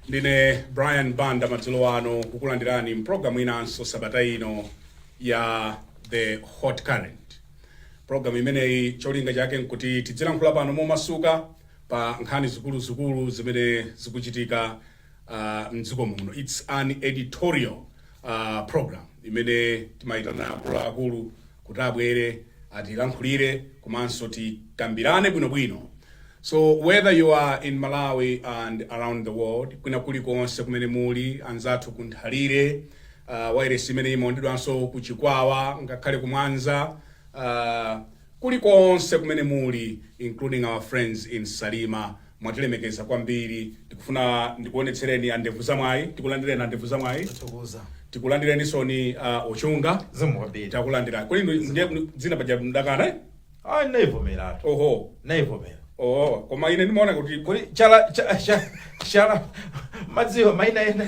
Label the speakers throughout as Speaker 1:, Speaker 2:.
Speaker 1: Ndine Brian Banda madzulo ano kukulandirani mpulogalamu inanso sabata ino ya The Hot Current. Pulogalamu imeneyi cholinga chake nkuti tidzilankhula pano momasuka pa nkhani zikuluzikulu zimene zikuchitika uh, mdziko muno. It's an editorial uh, program imene timayitana akuluakulu kuti abwere atilankhulire komanso tikambirane bwinobwino so whether you are in malawi and around the world kwina kulikonse kumene muli anzathu ku Nthalire uh, wairesi imene imaonedwanso ku Chikwawa ngakhale ku Mwanza uh, kulikonse kumene muli including our friends in salima Mwatilemekeza kwambiri. Tikufuna ndikuonetsereni a Ndevu za Mwayi. Tikulandireni a Ndevu za Mwayi. Tathokoza. Tikulandirenisoni a Chunga. Zikomo kwambiri. Takulandirani.
Speaker 2: Kodi inu
Speaker 1: ndiye kuti dzina paja mdakana? eh? Ah,
Speaker 2: naivomeratu.
Speaker 1: Oho. Naivomera.
Speaker 2: Oho. Koma ine
Speaker 1: ndimaona kuti Kodi chala cha- cha-
Speaker 2: chala madziwa maina ena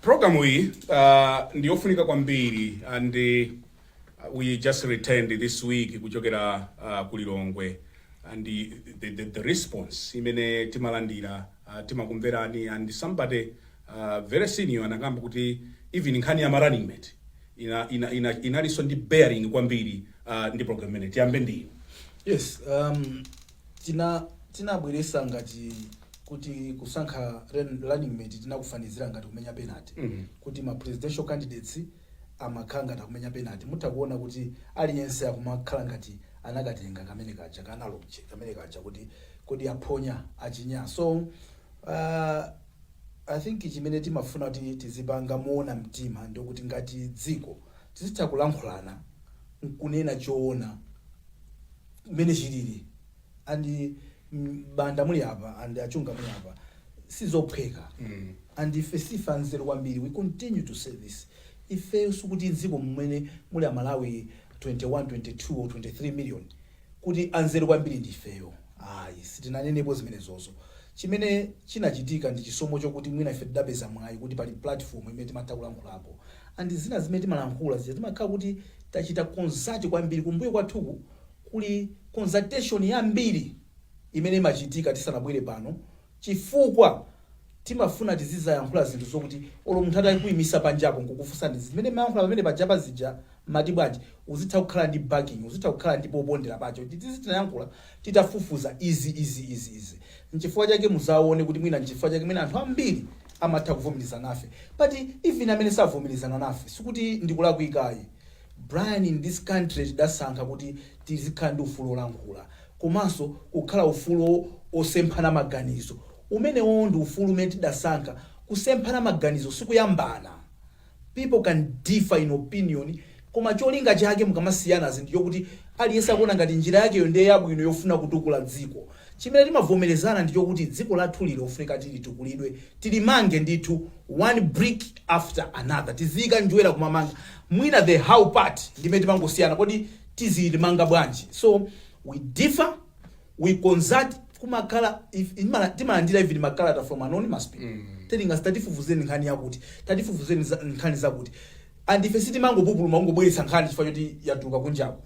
Speaker 1: Program iyi uh, ndi yofunika kwambiri and uh, we just returned this week kuchokera uh, ku Lilongwe and the, the, the, the response imene timalandira uh, timakumverani and somebody uh, very senior anakamba kuti even nkhani ya ma running mate ina, ina, ina, inalinso ndi bearing kwambiri uh, ndi program imene tiyambe ndiyo Yes, um,
Speaker 3: Tinabweresa ngati kuti kusankha running mate tinakufanizira ngati kumenya penalty kuti ma presidential candidates amakhala ngati akumenya penalty. Mutha kuona kuti aliyense akumakhala ngati anakatenga kamene kaja ka analogy kamene kaja kuti kodi aphonya, achinya. So aah I think chimene timafuna kuti tizipanga moona mtima ndikuti ngati dziko tizitha kulankhulana nkunena choona. mmene chilili and a Banda muli apa and a Chunga muli apa sizophweka Mm. and ife sife anzeru kwambiri we continue to say this ifeyo sikuti mdziko mmene muli amalawi 21 22 or 23 million kuti anzeru kwambiri ndi ifeyo ayi sitinanenepo zimenezozo chimene chinachitika ndi chisomo chokuti mwina ife tidapeza mwayi kuti pali platform imene timatha kulankhulapo and zina zimene timalankhula zija timakhala kuti tachita consult kwambiri, kumbuyo kwathuku kuli consultation yambiri imene imachitika tisanabwere pano chifukwa timafuna tizizayankhula zinthu zokuti olo munthu atakuimisa panjapo nkukufunsani zimene mmayankhula pamene pajapa zija mmati bwanji uzitha kukhala ndi backing, uzitha kukhala ndi popondera pache kuti izi tinayankhula. titafufuza izi, izi, izi, izi. Nchifukwa chake muzaone kuti mwina nchifukwa chake mwina anthu ambiri amatha kuvomerezana nafe. But even amene savomerezana nafe sikuti ndikulakwika ayi. Brian in this country tidasankha kuti tizikhala ndi ufulu olankhula komanso kukhala ufulu osemphana maganizo. Umenewo ndi ufulu umene tidasankha. Kusemphana maganizo sikuyambana. People can differ in opinion koma cholinga chake mukamasiyanazi ndichokuti aliyense akuona ngati njira yakeyo ndiye yabwino yofuna kutukula dziko. Chimene timavomerezana ndichokuti dziko lathuli lilofunika tilitukulidwe tilimange ndithu one brick after another tiziika njwera kumamanga mwina the how part ndimene timangosiyana kodi tizilimanga bwanji so we differ. we consult kumakhala if- imala- timalandira even makalata from anonymous people telling us tatifufuzeni nkhani yakuti tatifufuzeni za- nkhani zakuti and ife sitimangopupuluma kungobweretsa nkhani chifukwa choti yatuluka kunjako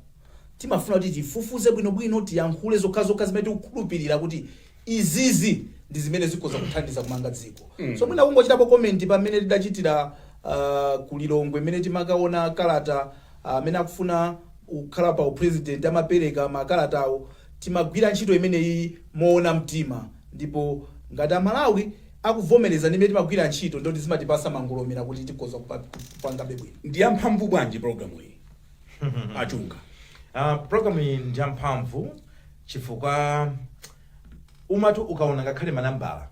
Speaker 3: timafuna kuti tifufuze bwinobwino tiyankhule zokhazokha zimene tikukhulupirira kuti izizi ndi zimene zikhoza kuthandiza kumanga dziko so mwina kungochitapo komenti pamene tidachitira uh, ku Lilongwe imene timakaona kalata Amene akufuna kukhala pa upresident amapereka makalata awo. Timagwira ntchito imeneyiyi mowona mtima ndipo ngati a Malawi akuvomereza ndi mmene timagwira ntchito ndiye kuti zimatipasa mangolomera kuti tikhoza kupangabe bwino. Ndiyamphamvu
Speaker 1: bwanji program iyi a Chunga.
Speaker 2: Program iyi ndiyamphamvu chifukwa. umatu ukaona ngakhale manambala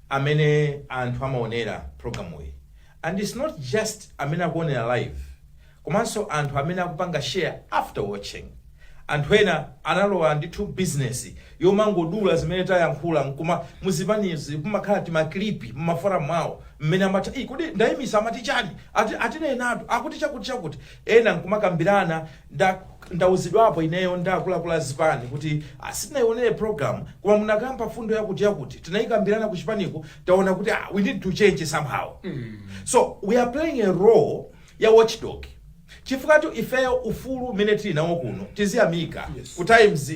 Speaker 2: amene anthu amaonera programuyi and its not just amene akuonera live komanso anthu amene akupanga share after watching anthu ena analowa ndithu bizinesi yomangodula zimene tayankhula nkuma muzipanizi kumakhala timaklipi mumafora mwawo mmene amati kodi ndayimisa amati chani Ati- atinenatu akuti chakuti chakuti ena nkumakambirana Nda ndauzidwapo ineyo ndi akuluakulu a zipani kuti ah, sitinaionere program koma munakamba fundo yakuti yakuti tinaikambirana ku chipaniku taona kuti ah, we need to change somehow so we are playing a role ya watchdog chifukwa tu ifeyo ufulu umene tili nawo kuno tiziyamika Yes. ku Times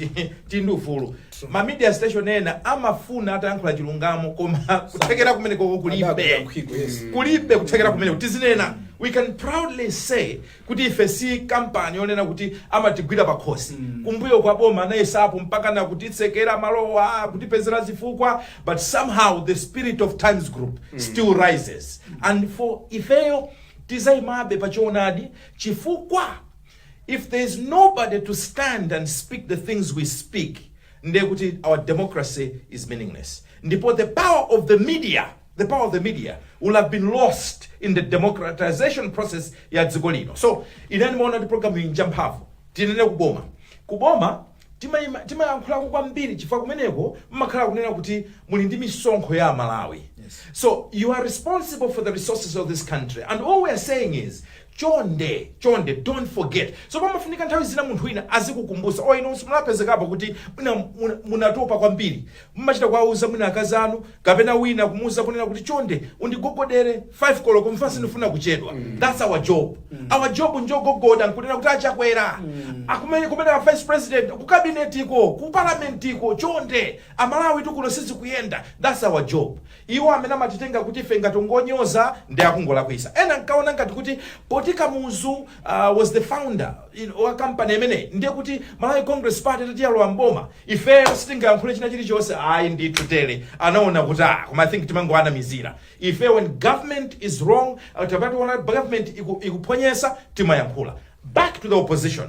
Speaker 2: tili ndi ufulu ma media station ena amafuna atayankhula chilungamo koma kuthekera kumeneko kulibe Adakuyankhiko, yes. kulibe kuthekera kumeneko tizinena we can proudly say kuti ife si kampani yonena kuti amatigwira pakhosi mm. kumbuyo kwa boma anayesapo mpakana kutitsekera malowa kutipezera zifukwa but somehow the spirit of Times Group mm. still rises mm. and for ifeyo tizayimabe pachoonadi chifukwa if there is nobody to stand and speak the things we speak ndiye kuti our democracy is meaningless ndipo the power of the media the power of the media will have been lost in the democratization process ya dziko lino so ine ndimaona kuti programu iyi njamphamvu tinene kuboma kuboma timayima- timayankhulako kwambiri chifukwa kumeneko mmakhala kunena kuti muli ndi misonkho ya malawi Yes. so you are responsible for the resources of this country and all we are saying is chonde chonde don't forget so pamafunika nthawi zina munthu wina azikukumbutsa o ino simulapezekapo kuti mwina muna- munatopa kwambiri Mumachita kuwauza mwina akazi anu kapena wina kumuuza kunena kuti chonde undigogodere 5 koloko chifukwa sindifuna kuchedwa that's our job our job njogogoda nkunena kuti a Chakwera akumeneko kumene a vice president ku kabinetiko ku parlamentiko chonde amalawi tikuno sizikuyenda that's our job iwo amene amatitenga kuti ife ngotingonyoza ndi akungolakwisa ena nkaona ngati kuti poti kamuzu uh, was the founder you know, wa kampani imeneyi ndiye kuti malawi congress party tati yalowa mboma ifeyo sitingayankhule china chilichonse ayi ndithu tele anaona kuti ah koma i think timangoanamizira ife when government is wrong uh, tapationa kuti government iku- ikuphonyesa timayankhula back to the opposition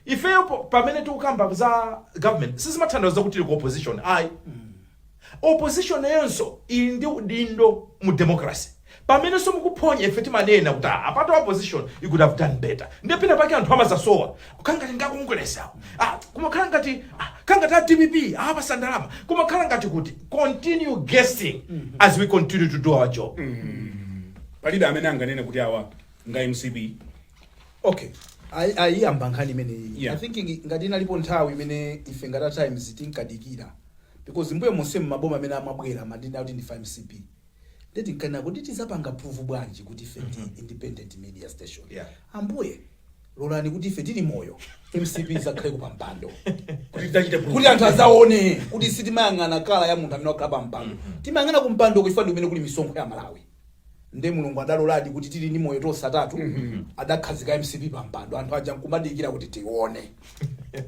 Speaker 2: ifeyo po- pamene tikukamba za government sizimathandauza kuti tili ku opposition ayi Opposition nayonso ili ndi udindo mu democracy. Pamenenso mukuphonya ife timanena kuti ah apatu opposition you could have done better. Ndiye pena pake anthu amazasowa. Kukhala ngati ndi a Congress awo. Ah kumakhala ngati ah khala ngati a dpp awapatsa ndalama. Kumakhala ngati kuti continue guessing as we continue to do our
Speaker 1: job. palibe amene anganene kuti awa nja mcp okay
Speaker 3: Ayi- ayiyamba nkhani imeneyi Yeah. i think ngi- ngati inalipo nthawi imene ife ngati a times tinkadikira because mbuyo monsemu maboma amene amabwera amanena kuti ndifa mcp nde tinkanena kuti tizapanga prove bwanji kuti ife ndi independent media station Yeah. ambuye lolani kuti ife tili moyo mcp izakhale kupampando Kuti tidzachite proof. kuti anthu azaone kuti sitimayang'ana kala ya munthu amene wakhala pampando timayang'ana kumpandoko chifukwa ndi kumene kuli misonkho ya malawi nde mulungu adaloladi kuti tili ndi moyo tonse atatu adakhazika mcp pa mpando anthu aja nkumadikira kuti tione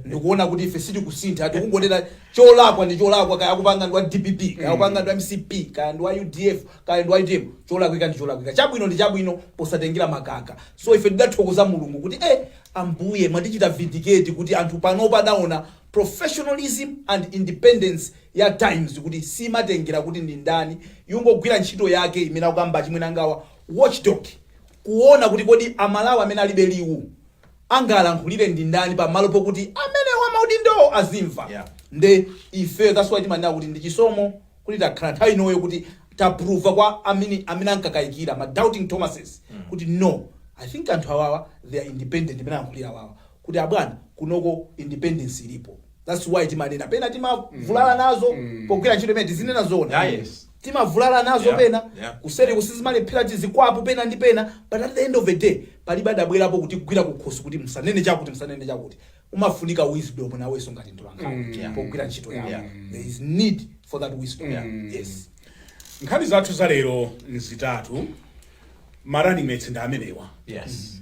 Speaker 3: ndikuona kuti ife sitikusintha tikungotera cholakwa ndi cholakwa kaya akupanga ndi wa dpp kaya akupanga ndi wa mcp kaya ndi wa udf kaya ndi wa utm cholakwika ndi cholakwika chabwino ndi chabwino posatengera makaka so ife tidathokoza mulungu kuti eh ambuye mwatichita vindicate kuti anthu panopa adaona professionalism and independence ya Times kuti simatengera kuti ndi ndani, yungogwira ntchito yake imene akukamba achimwenangawa, watchdog, kuona kuti kodi a Malawi amene alibe liwu angalankhulire ndi ndani pamalo pokuti amene wa maudindowo azimva. Yeah. Nde ifeyo that's why timanena kuti ndi chisomo kuti takhala nthawi inoyo kuti taprova kwa amene amene ankakayikira ma doubting Thomases kuti no I think anthu awawa they are independent imene alankhulira awawa kuti abwana kunoko independence ilipo. thats why timanena pena timavulala nazo Mm. pogwira ntchito imene tizinena zona Yeah, yes. timavulala nazo Yeah, pena yeah. kuseri kusizimalephera tizikwapo pena ndi pena but at the end of the day palibe adabwerapo kutigwira kukhosi kuti musanene chakuti musanene chakuti umafunika wisdom nawenso ngati mtolankhani Mm. Yeah. pogwira ntchito yako Yeah. there is need for that wisdom Mm. yes nkhani
Speaker 1: zathu za lero nzitatu ma running mates ndi amenewa yes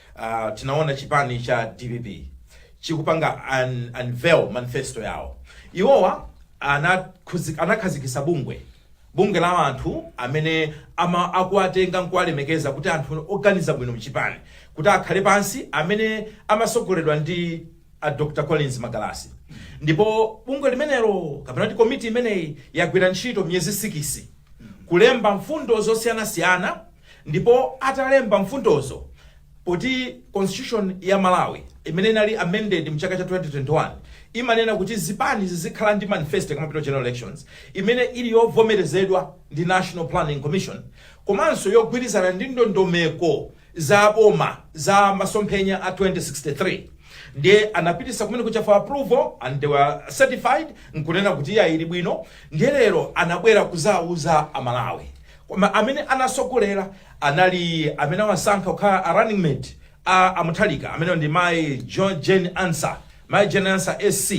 Speaker 2: Uh, tinaona chipani cha dpp chikupanga un, unveil manifesto yawo iwowa anakhuzi- anakhazikisa bungwe bungwe la anthu amene ama akuwatenga nkuwalemekeza kuti anthu oganiza bwino mchipani kuti akhale pansi amene amasogoledwa ndi a dr collins magalasi ndipo bungwe limenelo kapena kuti komiti imeneyi yagwira ntchito miyezi sikisi kulemba mfundo zosiyanasiyana Ndipo atalemba mfundozo poti constitution ya Malawi imene inali amended mchaka cha 2021 imanena kuti zipani zizikhala ndi manifesto ikamapita ku general elections imene ili yovomerezedwa ndi National Planning Commission komanso yogwirizana ndi ndondomeko za boma za masomphenya a 2063 ndiye anapitisa kumeneko cha for approval and they were certified nkunena kuti iyayi ili bwino ndiye lero anabwera kuzauza amalawi Koma amene anasogolera anali amene awasankha kukhala a running mate a a Mutharika amenewo ndi mayi Jane, Jane Ansah, mayi Jane Ansah SC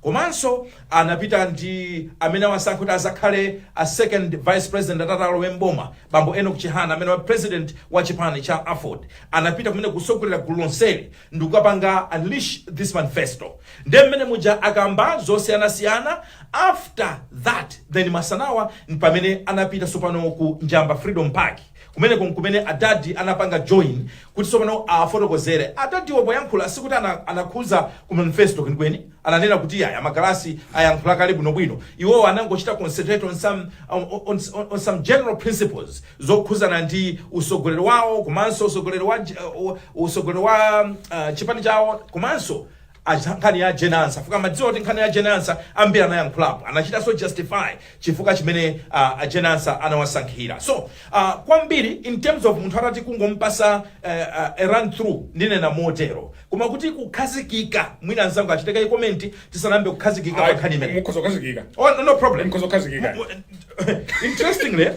Speaker 2: komanso anapita ndi amene awasankha kuti azakhale a second vice president atati alowe m'boma bambo Enock Chihana amenewa president wa chipani cha aford anapita kumene kusogolera gulu lonseli. ndikukapanga unleash this manifesto ndiye mmene muja akamba zosiyanasiyana after that then masanawa mpamene anapita sopano ku njamba freedom park kumeneko nkumene adadi anapanga join kuti sopano afotokozere adadiwo poyankhula sikuti ana- anakhuza ku manifesto kwenikweni ananena kuti iyayi a Magalasi ayankhula kale bwinobwino iwowo anangochita concentrate on some, on, on, on, on some general principles zokhuzana ndi usogoleri wawo komanso usogoleri wa, uh, usogoleri wa uh, chipani chawo komanso acha- nkhani ya Jane Ansah fuka mmadziwa kuti nkhani ya Jane Ansah ambiri anayankhulapo anachitanso justify chifukwa chimene a Jane Ansah anawasankhira so uh, kwambiri in terms of munthu atati kungompasa uh, uh, a run through ndinena motero koma kuti kukhazikika mwina mzangu achite kaye comment tisanayambe kukhazikika pa nkhani imene mukhoza kukhazikika oh, no, no
Speaker 1: problem Mukhoza
Speaker 2: kukhazikika. Mu- mu-
Speaker 1: interestingly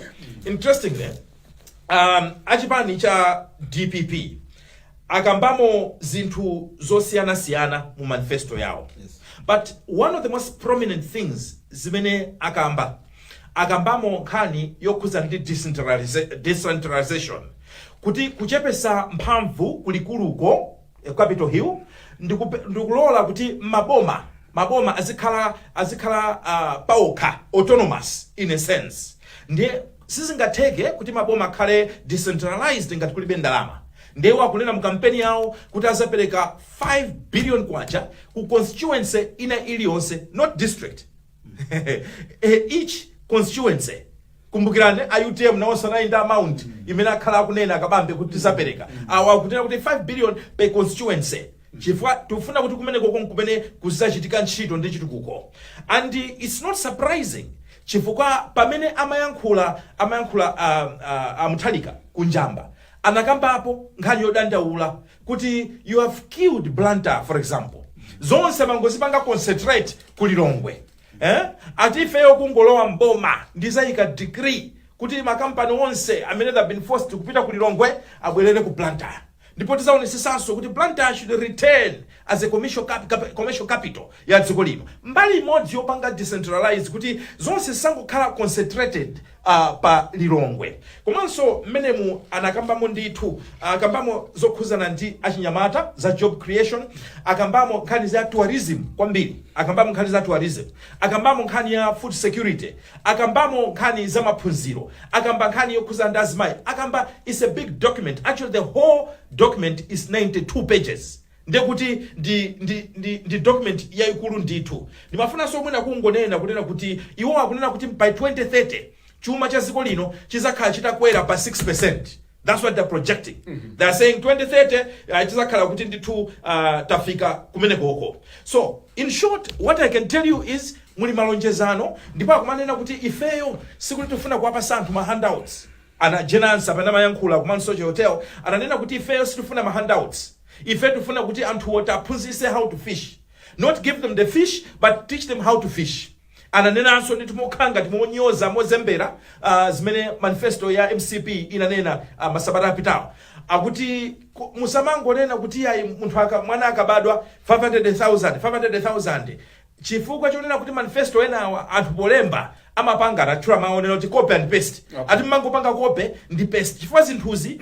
Speaker 2: interestingly um, achipani cha dpp akambamo zinthu zosiyanasiyana mu manifesto yawo but
Speaker 3: one of the
Speaker 2: most prominent things zimene akamba akambamo nkhani yokhuza ndi decentralization kuti kuchepesa mphamvu kulikuluko eh, capital hill ndikupe- ndikulola kuti maboma maboma azikhala azikhala uh, paokha autonomous in a sense ndiye sizingatheke kuti maboma akhale decentralized ngati kulibe ndalama ndiye iwo akunena mu kampeni yawo kuti azapereka 5 billion kwacha ku constituency ina iliyonse not district each constituency kumbukirani a utm nawonso anali ndi amount imene akhala akunena akabambe kuti tizapereka iwo akunena kuti 5 billion per constituency chifukwa tikufuna kuti kumeneko konko kumene kuzachitika ntchito ndi chitukuko and its not surprising chifukwa pamene amayankhula amayankhula uh, uh, a Mutharika ku Njamba anakambapo nkhani yodandaula kuti you have killed blantyre for example zonse mmangozipanga concentrate ku lilongwe eh? ati ifeyo kungolowa mboma ndizayika decree kuti makampani onse amene have been forced kupita ku lilongwe abwerere ku blantyre ndipo tizaonesesanso kuti blantyre should return as a commercial, cap, cap, commercial capital ya dziko lino mbali imodzi yopanga decentralize kuti zonse zisangokhala concentrated pa Lilongwe komanso mmenemu anakambamo ndithu akambamo zokhuzana ndi achinyamata za job creation akambamo nkhani za tourism kwambiri akambamo nkhani za tourism akambamo nkhani ya food security akambamo nkhani za maphunziro akamba nkhani yokhuzana ndi azimayi akamba it's a big document actually the whole document is 92 pages Ndiye kuti ndi, ndi, ndi, ndi document yaikulu ndithu. Ndimafunanso mwina kungonena, kunena kuti iwo akunena kuti by 2030 chuma cha dziko lino chidzakhala chitakwera pa 6%. That's what they're projecting. They're saying 2030 ah, tidzakhala kuti ndithu ah, tafika kumenekoko. So, in short, what I can tell you is muli malonjezano ndipo akumanena kuti ifeyo sikuti tifuna kuwapasa anthu ma handouts. A Jane Ansah pamene amayankhula ku Mount Soche Hotel ananena kuti ifeyo sitifuna ma handouts, ife tifuna kuti anthuwo tiaphunzise how to fish, not give them the fish but teach them how to fish. Ananenanso ndithu mokhala ngati monyodza, mozembera zimene manifesto ya mcp inanena masabata apitawo akuti musamangonena kuti iyayi munthu aka, mwana akabadwa 500,000, 500,000. Chifukwa chonena kuti manifesto enawa anthu polemba amapanga anatchula mawu onena kuti copy and paste okay. ati mmangopanga copy ndi paste chifukwa zinthuzi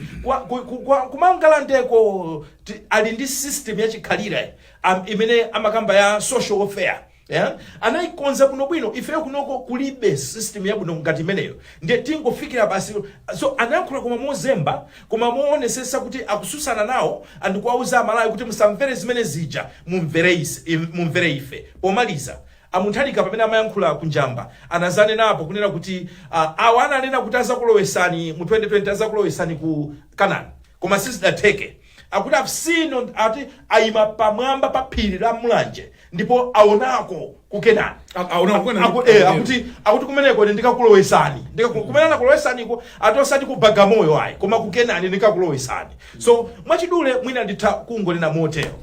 Speaker 2: kumangalandeko ali ndi system yachikhalira um, imene amakamba ya social welfare Yeah? anaikonza bwino bwino ifeyo kunoko kulibe system yabwino ngati imeneyo ndiye tingofikira basi so anayankhula koma mozemba koma mowonesesa kuti akususana nawo and kuwauza amalawi kuti musamvere zimene zija mumvere ise, im, mumvere ife pomaliza a Mutharika pamene amayankhula ku njamba anazanenapo kunena kuti uh, awa ananena kuti azakulowesani mu 2020 azakulowesani ku kanani koma sizidatheke akuti aMfumu, ati ayima pamwamba pa phiri la mulanje ndipo awonako ku kenani A- aona Aku- kwena aku- eh, akuti akuti kumeneko ine ndikakulowesani Ndikaku- kumene ndakulowesaniko ati osati ku bagamoyo ayi koma ku kenani ndikakulowesani so mwachidule mwina nditha kungonena motero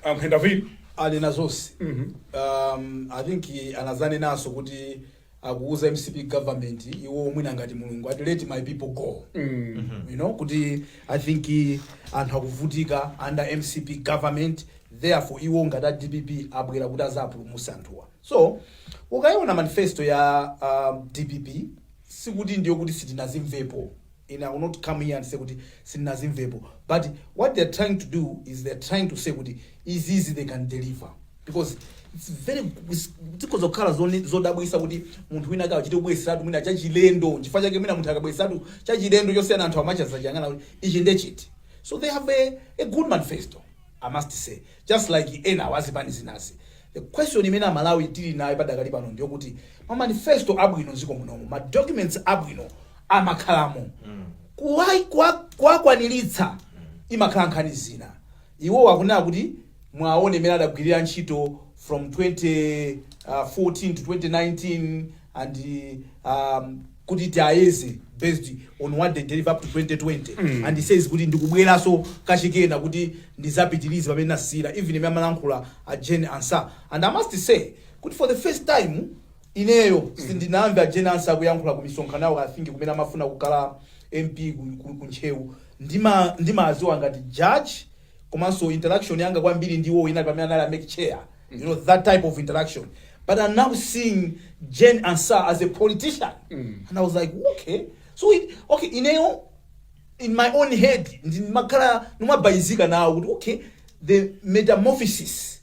Speaker 2: but David
Speaker 1: ali na
Speaker 3: zonse um, i think anazanenanso kuti akuuza mcp government iwo mwina ngati mulungu ati let my people go you know kuti i think anthu akuvutika under mcp government therefore iwo ngati a dpp abwera kuti azapulumuse anthuwa so ukayiona manifesto ya uh, dpp sikuti ndiyo kuti sitinazimvepo no i will not come here and say kuti sitinazimvepo but what they are trying to do is they are trying to say kuti izizi they can deliver because its very zikhoza kukhala zone- zodabwisa kuti munthu wina akachite kubwesatu mwina chachilendo nchifukwa chake mwina munthu akabwesatu chachilendo chosiyana anthu amachazachiyang'ana kuti ichi ndechiti so they have a, a good manifesto i must say just like enawo azipani zinazi. The question imene amalawi tili nayo padakali pano ndiyokuti ma manifesto abwino mziko munomu ma documents abwino amakhalamo kuwai- kuwa- kuwakwanilitsa imakhala nkhani zina iwo akunena kuti muwaone imene adagwirira ntchito from 2014 to 2019 and um, kuti tiayeze based on what they deliver up to 2020 and he says kuti ndikubweraso kachikenanso kuti ndizapitirize pamene nasiyira even imene amalankhula a Jane Ansah and I must say kuti for the first time ineyo sindinamve a Jane Ansah kuyankhula ku misonkhano yawo I think kumene amafuna kukhala MP ku, ku, ku Ntcheu ndima ndimaziwa ngati judge komanso interaction yanga kwambiri ndi iwowo inali pamene anali a mec chair you know that type of interaction but i'm now seeing Jane Ansah as a politician and i was like okay so it, okay ineyo in my own head ndimakhala ndimabalalika nawo kuti okay the metamorphosis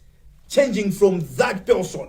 Speaker 3: changing from that person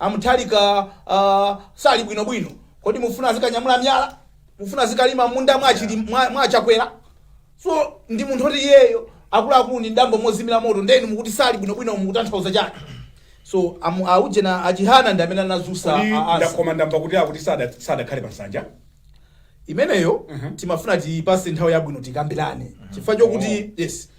Speaker 3: A Mutharika sali bwino bwino. Kodi mufuna azikanyamula myala? Mufuna azikalima m'munda mwa achili mwa, mwa achakwera? So ndi munthu oti iyeyo akuluakulu ndi mdambo mozimira moto ndeni mukuti sali bwino bwino mukutanthauza chani? So amu aujena achihana ndi amene anadzutsa Kodi a- a- nda- koma ndamva
Speaker 1: kuti akuti sada- sadakhale pansanja. imeneyo
Speaker 3: Mhm. timafuna tiyipase nthawi yabwino tikambirane chifukwa chokuti yes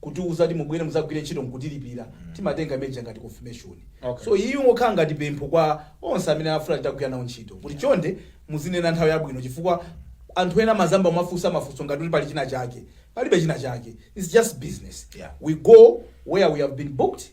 Speaker 3: kutiuza kuti mubwere muzagwire ntchito nkutilipira timatenga imeneja ngati confirmation Okay. so iyi ingokhala ngati pempho kwa onse amene afuna titagwira nawo ntchito kuti chonde muzinena nthawi yabwino chifukwa anthu ena amazayamba kumafunsa mafunso ngati kuti pali china chake palibe china chake its just business Yeah. we go where we have been booked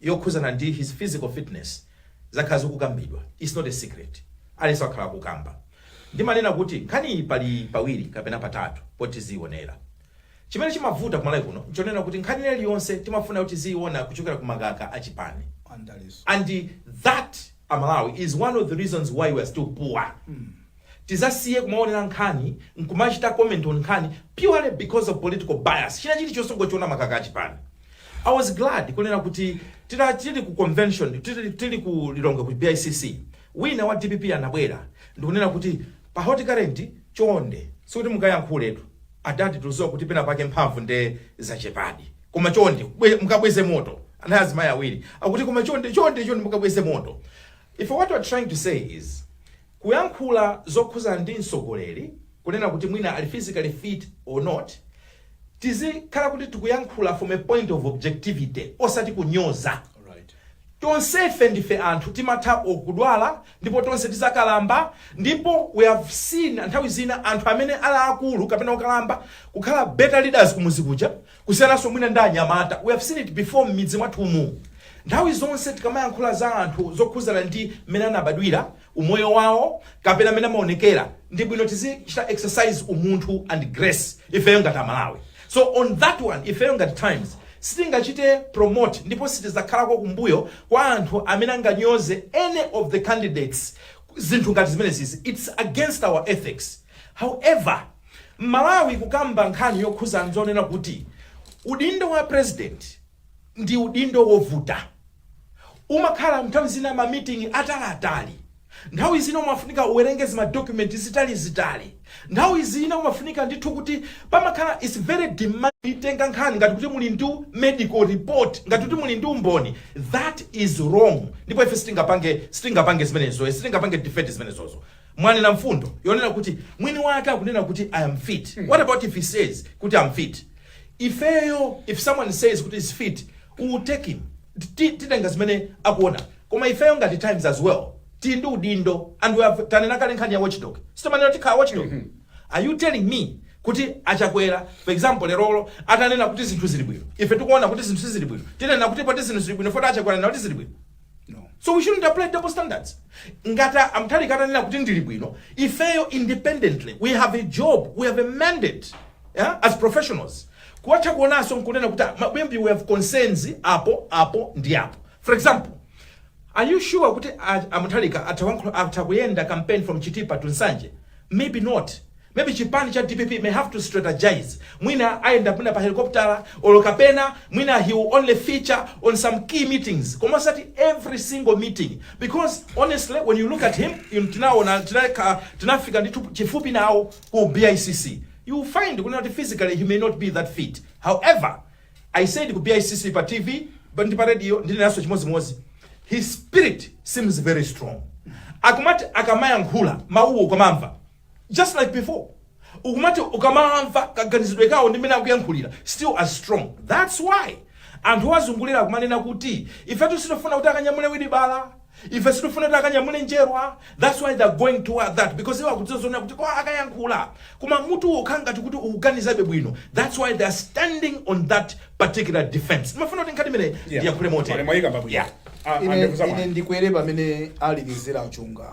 Speaker 1: yokhuzana
Speaker 2: ndi his physical fitness zakhala zikukambidwa its not a secret aliyense wakhala akukamba ndimanena kuti nkhaniyi pali pawiri kapena patatu poti tiziyionera chimene chimavuta kumalawi kuno nchonena kuti nkhani ina iliyonse timafuna kuti tiziyiona kuchokera ku makaka achipani and that amalawi is one of the reasons why we are still poor Tizasiye kumaonera nkhani nkumachita comment on nkhani purely because of political bias. China chili chonse ungochiona m'makaka a chipani. I was glad kunena kuti tili tili ku convention tili, tili ku Lilongwe ku BICC wina wa DPP anabwera ndikunena kuti pa hot current chonde sikuti mukayankhuletu adati tikuziwa kuti pena pake mphamvu nde zachepadi koma chonde bwe- mukabweze moto anali azimayi awiri akuti koma chonde chonde chonde mukabweze moto if what we're trying to say is Kuyankhula zokhuza ndi mtsogoleri kunena kuti mwina ali physically fit or not, tizikhala kuti tikuyankhula from a point of objectivity osati kunyoza. Tonsefe ndife anthu timatha or kudwala ndipo tonse tizakalamba ndipo we have seen nthawi zina anthu amene ali akulu kapena okalamba kukhala better leaders kumuzi kuja kusiyananso mwina ndi anyamata we have seen it before m'midzi mwathumu nthawi zonse tikamayankhula za anthu zokhuzana ndi mmene anabadwira umoyo wawo kapena mmene amaonekera ndi bwino tizichita exercise umunthu and grace ifeyo ngati amalawi so on that one ifeyo ngati times sitingachite promote ndipo sitizakhalako kumbuyo kwa anthu amene anganyoze any of the candidates zinthu ngati zimenezizi it's against our ethics However, M'malawi kukamba nkhani yokhuza nzonena kuti udindo wa president ndi udindo wovuta. Umakhala nthawi zina ma meeting ataliatali. Nthawi zina umafunika uwerenge zima document zitalizitali. Nthawi zina umafunika ndithu kuti pamakhala it's very demanding. Kuitenga nkhani ngati kuti muli ndi medical report, ngati kuti muli ndi umboni, that is wrong ndipo ife sitingapange sitingapange zimenezo sitingapange defend zimenezozo. Mwanena mfundo yonena kuti mwini wake akunena kuti I am fit. What about if he says kuti I'm fit? Ifeyo if someone says kuti is fit, we will take him. Ti- Titenga zimene akuona. Koma ifeyo ngati Times as well. Tili ndi udindo and we have tanena kale nkhani ya watchdog. Sitimanena kuti ndi watchdog. Are you telling me kuti achakwera for example lerolo atanena kuti zinthu zili bwino ife tikuona kuti zinthu sizili bwino tinena kuti poti zinthu zili bwino poti achakwera anena kuti zili bwino No. So we shouldn't apply double standards. Ngata amtali kata nila kuti ndili bwino. Ifeyo independently we have a job, we have a mandate yeah, as professionals. Kuwacha kuonaso nkunena kuti "Ah, maybe we have concerns apo apo ndi apo. For example, are you sure kuti a- amuthalika atawankho- atakuyenda campaign from Chitipa to Nsanje? Maybe not. Maybe chipani cha dpp may have to strategize, mwina ayenda mwina pa helicopter or kapena mwina he will only feature on some key meetings koma osati every single meeting because honestly when you look at him ife tinaona tinaka tinafika ndithu chifupi nawo ku BICC you will find kunena kuti physically he may not be that fit however I said ku BICC pa TV but ndi pa radio ndinenanso chimodzimodzi his spirit seems very strong akumati akamayankhula mawuwo komamva just like before ukumati ukamawamva kaganizidwe kawo ndi mmene akuyankhulira still as strong that's why anthu owazungulira akumanena kuti ifetu sitifuna kuti akanyamule wilibala ife sitifuna kuti akanyamule njerwa that's why they're going toward that because iwo akudziwa zonena kuti kaya akayankhula koma mutu wokha ngati kuti ukuganizabe bwino that's why they're standing on that particular defense ndimafuna kuti nkhani imeneyi ndiyankhule motere Mwayikamba bwino. Yeah.
Speaker 1: Ah, ine, andiuza ine
Speaker 3: mwana. ndikwere pamene alekezera achunga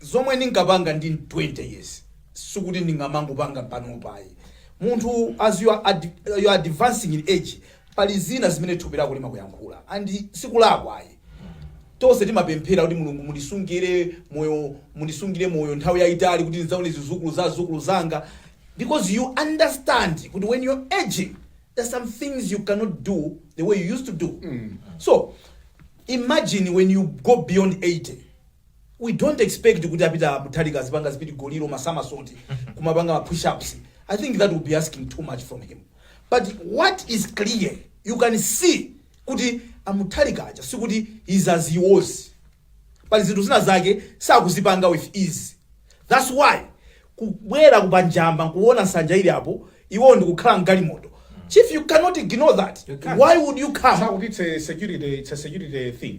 Speaker 3: zomwe ndinkapanga ndili 20 years sikuti ndingamangopanga panopa ayi munthu as you are, ad, you are advancing in age pali zina zimene thupi lako limakuyankhula, and sikulakwa ayi tonse timapemphera kuti mulungu mundisungire moyo mundisungire moyo nthawi yayitali kuti ndidzaone zidzukulu za zidzukulu zanga because you understand kuti when you're aging there's some things you cannot do the way you used to do so imagine when you go beyond 80 we dont expect kuti a peter mutharika azipanga zipidigoli ma somersault kumapanga ma push ups i think that will be asking too much from him but what is clear you can see kuti a mutharika aja sikuti he is as he was but zinthu zina zake sakuzipanga with ease thats why kubwera ku Njamba nkuona nsanja ili apo iwo ndikukhala mgalimoto chief you cannot ignore that You can't. why would you come Sikuti za security,
Speaker 1: it's a security thing.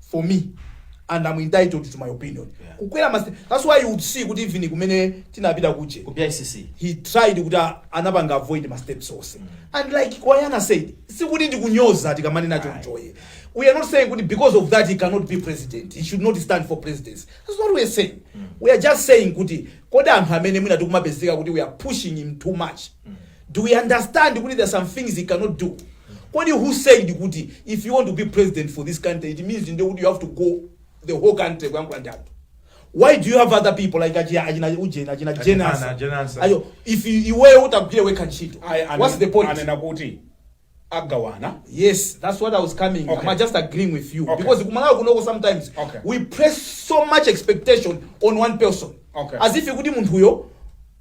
Speaker 3: for me and I'm entitled to my opinion Yeah. kukwera ma step that's why you would see kuti even kumene tinapita kuja ku bicc he
Speaker 2: tried kuti a-
Speaker 3: anapanga avoid ma steps onse and like kwayana said sikuti ndikunyoza tikamanena chonchoyi we are not saying kuti because of that he cannot be president he should not stand for presidency that's not what we are saying we are just saying kuti kodi anthu amene mwina tikumapezeka kuti we are pushing him too much Do we understand kuti there are some things he cannot do? Kodi who said kuti if you want to be president for this country it means ndiye kuti you have to go the whole country kuyankhula ndi anthu. Why do you have other people like achina achina ujena achina Achina- jenasa? Jenasa. Ayo if you- iweyo utagwire wekha ntchito. Ayi, ane- What's the point? anena kuti
Speaker 1: agawana yes
Speaker 3: that's what i was coming okay. i'm just agreeing
Speaker 1: with you
Speaker 3: okay. because kumalawi
Speaker 1: kunoko
Speaker 3: sometimes okay. we press so much expectation on one person okay. as if kuti munthuyo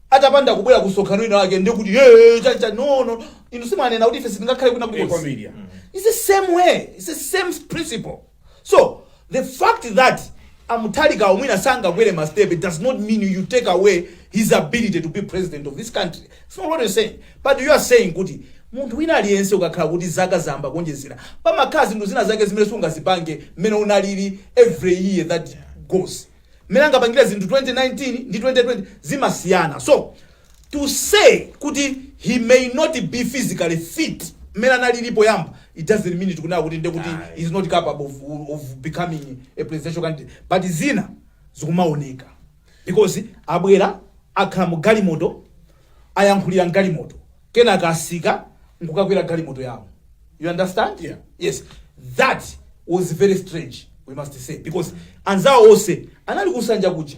Speaker 3: atapanda kubwera kumsonkhano wina wake ndiye kuti "Eh, cha cha no no inu simanena kuti ife sitingakhale kuna Iko kulikonse media. it's the same way it's the same principle so the fact that a Mutharikawo mwina sangakwere ma step it does not mean you take away his ability to be president of this country it's not what you're saying but you are saying kuti munthu wina aliyense ukakhala kuti zaka zayamba kuonjezera pamakhala zinthu zina zake zimene sungazipange mmene unalili every year that goes mmene angapangire zinthu 2019 ndi 2020 zimasiyana so to say kuti he may not be physically fit mmene analili poyamba it doesn't mean tikunena kuti ndekuti Aye. he is not capable of, of becoming a presidential candidate but zina zikumaoneka because abwera akhala mu galimoto ayankhulira mgalimoto kenaka atsika nkukakwera galimoto yawo you understand Yeah. yes that was very strange we must say because anzawo onse anali kunsanja kuja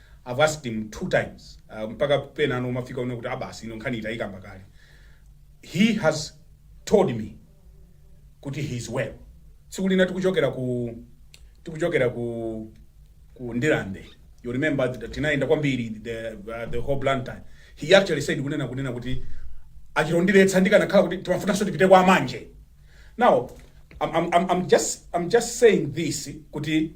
Speaker 1: I've asked him 2 times mpaka penano umafika unena kuti aa basi ino nkhaniyi tayikamba kale. He has told me kuti he is well. Tsiku lina tikuchokera ku tikuchokera ku ku Ndirande. You remember that tinayenda kwambiri the, uh, the whole Blantyre. He actually said kunena kunena kuti achirondiretsa ndikanakhala kuti timafunanso tipite kwa manje. Now I'm, I'm, I'm, I'm just I'm just saying this kuti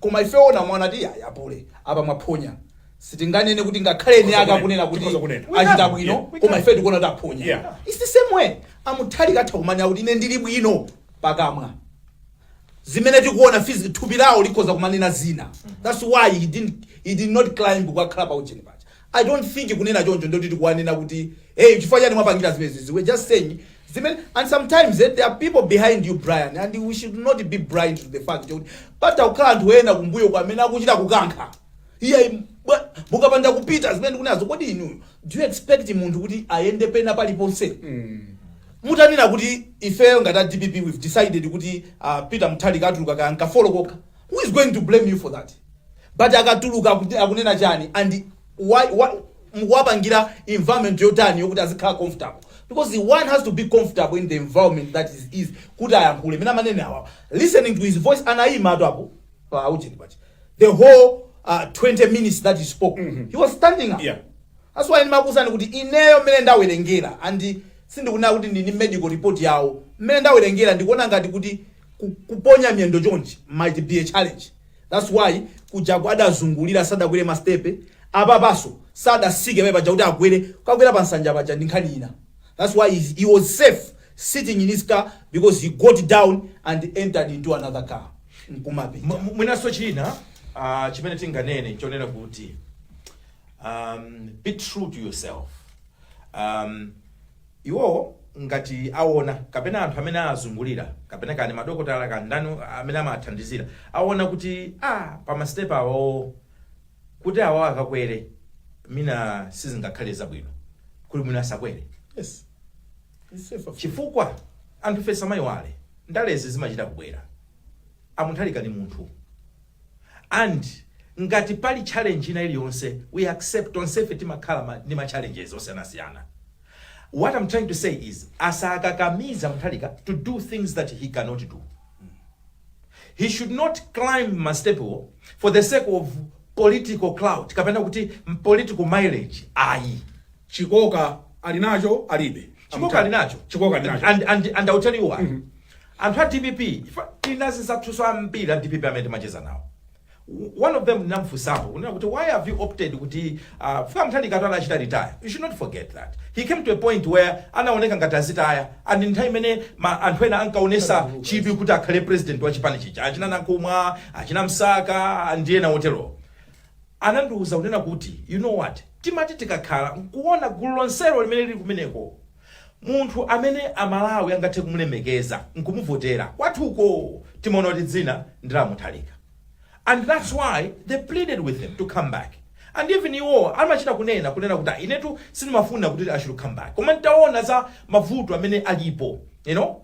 Speaker 3: koma ife owona tikuona kuti ayi apule apa mwaphonya sitinganene kuti ngakhale eni ake akunena kuti Tikhoza kunena. achita bwino Yeah, we koma can. ife tikuona kuti aphonya Yeah. its the same way a Mutharika atha kumanena kuti ine ndili bwino pakamwa zimene tikuona physi- thupi lawo likhoza kumanena zina that's why he didn't, he did not climb kukakhala pa ujeni paja I don't think kunena choncho nde kuti tikuwanena kuti hey chifukwa chani mwapangira zimenezi we're just saying zimene and sometimes eh, there are people behind you Brian and we should not be blind to the fact kuti patha kukhala anthu ena kumbuyo kwa amene akuchita kukankha iye bwa- mukapanda kupita zimene ndikunenazo kodi inuyo do you expect munthu kuti ayende pena paliponse mutanena kuti ifeyo ngati a dpp we've decided kuti uh, peter mutharika atuluka kankafolo kokha Who is going to blame you for that? But akatuluka akuti- akunena chani and why, why mukuwapangira environment yotani yokuti azikhala comfortable because the one has to be comfortable in the environment that is, is kuti ayankhule mene amanene awa listening to his voice anayimatu apo pa ujeni paja the whole uh, 20 minutes that he spoke he was standing up Yeah. that's why
Speaker 1: ndimakuuzani
Speaker 3: kuti ineyo mmene ndawerengera and sindikunena kuti ndili ndi medical report yawo mmene ndawerengera ndikuona ngati kuti ku- kuponya miyendo chonchi might be a challenge thats why kujaku adazungulira sadakwere mastepe apapanso sadatsike pamene paja kuti agwere kukakwera pa nsanja paja ndi nkhani ina thats why he- he was safe sitting in his car because he got down and entered into another car nkumapita Mu-
Speaker 2: mu- mwinanso china ah, chimene tinganene n'chonena kuti um, be true to yourself um, Iwo ngati awona, kapena anthu amene awazungulira, kapena kaya ndi madokotala kaya ndani amene amawathandizira, awona kuti a pa ma step awowo kuti awawa akakwere mwina sizingakhale zabwino, kuti mwina asakwere. Yes.
Speaker 3: It's safe.
Speaker 2: Chifukwa anthufe tisamaiwale, ndalezi zimachita kubwera. A Muntharika ndi munthu. And ngati pali challenge ina iliyonse, we accept, tonsefe timakhala ndi ma challenges osiyanasiyana. What am trying to say is asakakamize a Mutharika to do things that he cannot do. He should not climb ma step wo for the sake of political clout kapena kuti m- political mileage ayi.
Speaker 1: chikoka ali nacho alibe Chikoka ali
Speaker 2: nacho. chikoka ali nacho And, and, and I'll tell you why. Anthu a DPP, ife tina azinzathunso ambiri a DPP amene timacheza nawo. one of them ndinamfunsapo kunena kuti why have you opted kuti uh, chifukwa Mutharika tu anachita retire you should not forget that he came to a point where anaoneka ngati azitaya and nthawi imene ma- anthu ena ankaonesa chidwi kuti akhale president wa chipani chija achina Nankhumwa achina msaka ndi ena oterowo anandiuza kunena kuti you know what timati tikakhala nkuona gulu lonselo limene lili kumeneko Munthu amene a Malawi angathe kumulemekeza nkumuvotera kwathuko timaona kuti dzina ndi la Mutharika and that's why they pleaded with him to come back and even iwowa amachita kunena kunena kuti ah inetu sindimafuna kuti I should come back koma nditaona za mavuto amene alipo you know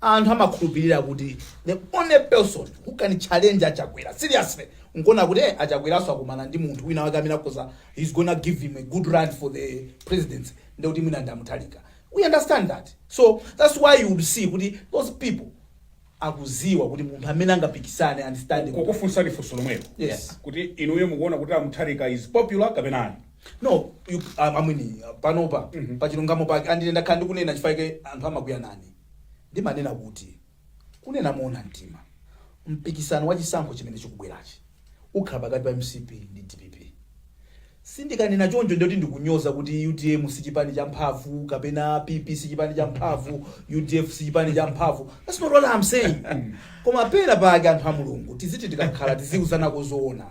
Speaker 3: Anthu amakhulupilira kuti the only person who can challenge a Chakwera seriously nkuona kuti eh, a Chakweraso akumana ndi munthu wina wake amene akhoza he's gonna give him a good run for the presidency ndi kuti mwina ndi a Mutharika. We understand that. So that's why you would see kuti those people akuziwa kuti munthu amene angapikisane and stand with- kukufunsani funso
Speaker 1: lomwelo Yes.
Speaker 3: kuti inuyo
Speaker 1: mukuona kuti amutharika is popular kapena ayi no you,
Speaker 3: um, amwini uh, panopa pachilungamo pake andine ndakhala ndikunena chifukwa anthu amakwiya nane ndimanena kuti, Kunena moona mtima, mpikisano wa chisankho chimene chikubwerachi ukhala pakati pa mcp ndi dpp. Ndikanena choncho sindiye kuti ndikunyoza kuti utm si chipani cha mphamvu kapena PP si chipani cha mphamvu, udf si chipani cha mphamvu. That's not what I'm saying. Koma pena pake anthu a Mulungu tiziti tikakhala tiziuzanako zoona.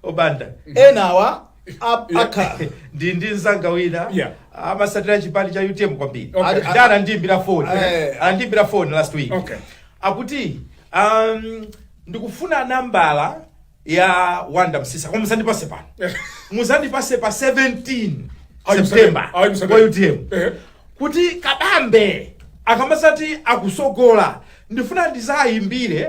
Speaker 3: A
Speaker 2: Banda. Enawa
Speaker 3: Ap- akha ndi ndi
Speaker 2: nzanga wina Yeah. amasatira chipani cha utm kwambiri Okay. Ati- ati
Speaker 3: anandiimbira phone Eh.
Speaker 2: anandiimbira phone last week Okay. akuti um, ndikufuna nambala ya wanda msisa koma musandipase pano muzandipase pa 17 Ayi, september ayi, msandipase. kwa utm Eh. kuti kabambe akamazati akusogola ndifuna ndizayimbire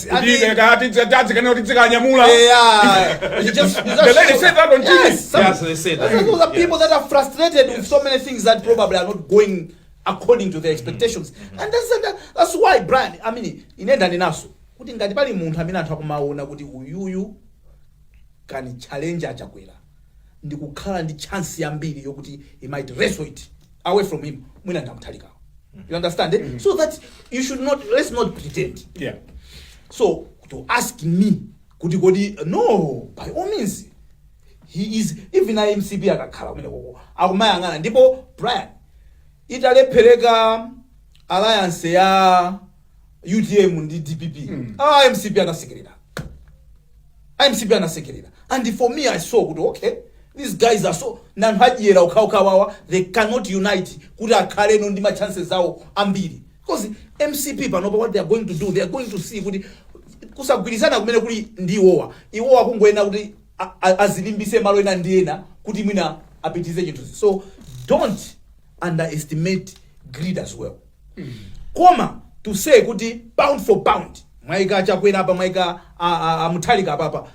Speaker 1: Kuti ife
Speaker 3: kaya
Speaker 1: tidzi- tadzikana kuti
Speaker 3: dzikanyamula. The lady said that
Speaker 1: on TV. Yes, some- Yes, they said
Speaker 2: that. Those are Yes. people that are
Speaker 3: frustrated with so many things that probably are not going according to their expectations. And that's, that, that's why, Brian, I mean, ine ndanenanso. Kuti ngati pali munthu amene anthu akumaona kuti uyuyu can challenge a Chakwera. ndikukhala ndi chance yambiri yokuti he might wrestle it away from him mwina nda Mutharikawo you understand eh? so that you should not let's not pretend yeah
Speaker 1: so
Speaker 3: to ask me kuti kodi no by all means he is even a MCP akakhala kumene koko akumayang'ana ndipo Brian italephereka alliance ya UTM ndi DPP mm. ah, MCP angasekerere MCP angasekerere and for me i saw kuti okay these guys are so nanthu a dyera okhaokhawawa they cannot unite kuti akhaleno ndi machances awo ambiri because MCP panopa what they are going to do they are going to see kuti kusagwirizana kumene kuli ndi iwowa iwowa kungoyenera kuti a- a- azilimbise malo ena ndi ena kuti mwina apitirize chinthu so don't underestimate greed as well koma to say kuti pound for pound mwaika Chakwera apa mwaika a- a- a Mutharika apapa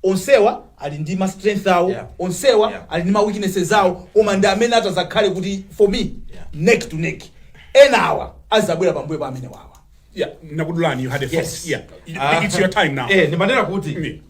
Speaker 3: onsewa ali ndi ma strength awo Yeah. onsewa Yeah. ali ndi ma weaknesses awo koma ndi amene ati azakhale kuti for me Yeah. neck to neck enawa azabwera pambuyo pa amene wawa Yeah, nakudulani,
Speaker 1: you had a Yes. thought. Yeah.
Speaker 2: Ah. It's
Speaker 1: your time now. Eh, ndimanena kuti Mm.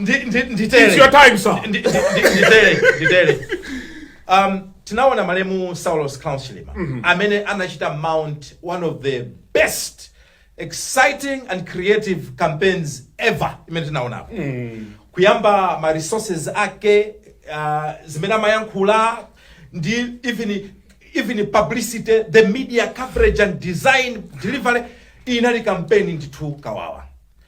Speaker 2: ndi ndi
Speaker 1: It's nditele your time, sir. Ndi- ndi- ndi- nditele
Speaker 2: nditele um tinaona malemu Saulos Klaus Chilima amene anachita mount one of the best exciting and creative campaigns ever imene tinaonapo kuyamba ma resources ake uh, zimene amayankhula ndi even even publicity the media coverage and design delivery inali campaign ndithu kawawa